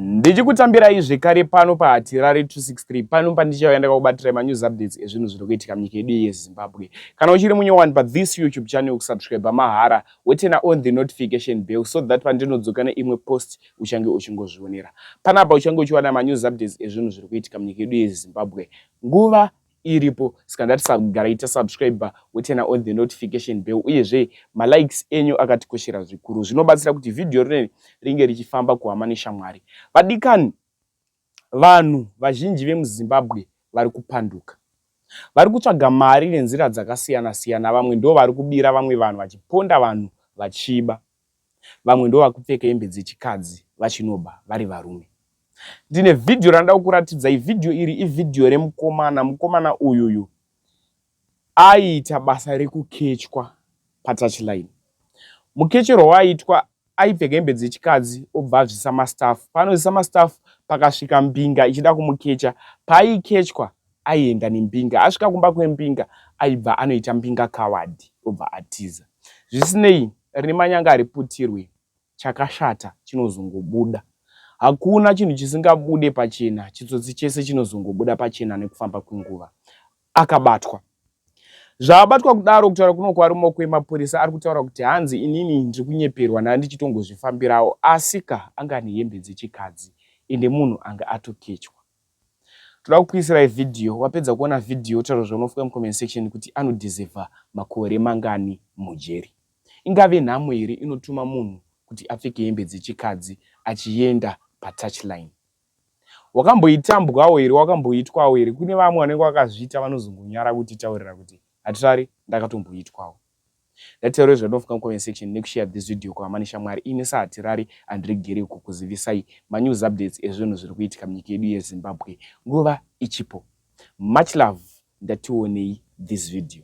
Ndichikutambirai zvekare pano paHatirare 263 pano pandichauya ndakakubatira manews updates ezvinhu zviri kuitika munyika yedu yeZimbabwe. Kana uchiri munyowani pa this YouTube channel kusubscribe mahara wotena on the notification bell so that pandinodzoka neimwe post uchange uchingozvionera. Panapa uchange uchiwana manews updates ezvinhu zviri kuitika munyika yedu yeZimbabwe nguva iripo saka ngatisagara ita subscriber wotena on the notification bell uyezve malikes enyu akatikoshera zvikuru zvinobatsira kuti vhidhiyo rineri ringe richifamba kuhama neshamwari vadikani vanhu vazhinji vemuzimbabwe vari kupanduka vari kutsvaga mari nenzira dzakasiyana siyana vamwe ndo vari kubira vamwe vanhu vachiponda vanhu vachiba vamwe ndovakupfeka hembe dzechikadzi vachinoba vari varume. Ndine vhidhiyo randida kukuratidzai. Vhidhiyo iri ivhidhiyo remukomana. Mukomana uyuyu aiita basa rekukechwa patouchline. Mukecherwa waaitwa aipfeka hembe dzechikadzi obva azvisa mastaff. Paanozvisa mastaff pakasvika mbinga ichida kumukecha. Paaikechwa aienda nembinga asvika kumba kwembinga aibva anoita mbinga kawadi obva atiza zvisinei rine manyanga ariputirwe chakashata chinozongobuda hakuna chinhu chisingabude pachena chitsotsi chese chinozongobuda pachena nekufamba kwenguva akabatwa zvaabatwa kudaro kutaura kuno kwarimo kwemapurisa ari kutaura kuti hanzi inini ndiri kunyeperwa ndaa ndichitongozvifambirawo asika anga ane hembe dzechikadzi ende munhu anga atokechwa Toda kukuisirai video wapedza kuona video taura zvaunofunga mucomment section kuti anodeserver makore mangani mujeri. Ingave nhamo here inotuma munhu kuti apfeke hembe dzechikadzi achienda patouchline. Wakamboitambwawo here wakamboitwawo here kune vamwe vanenge vakazviita vanozongonyara kutitaurira kuti hatari ndakatomboitwawo. Ndateyerwe zvandofunga mucomment section nekushare this video kuhamani shamwari ini sahatirari handiregeri kukuzivisai manews updates ezvinhu zviri kuitika munyika yedu yezimbabwe nguva ichipo much love ndationei this video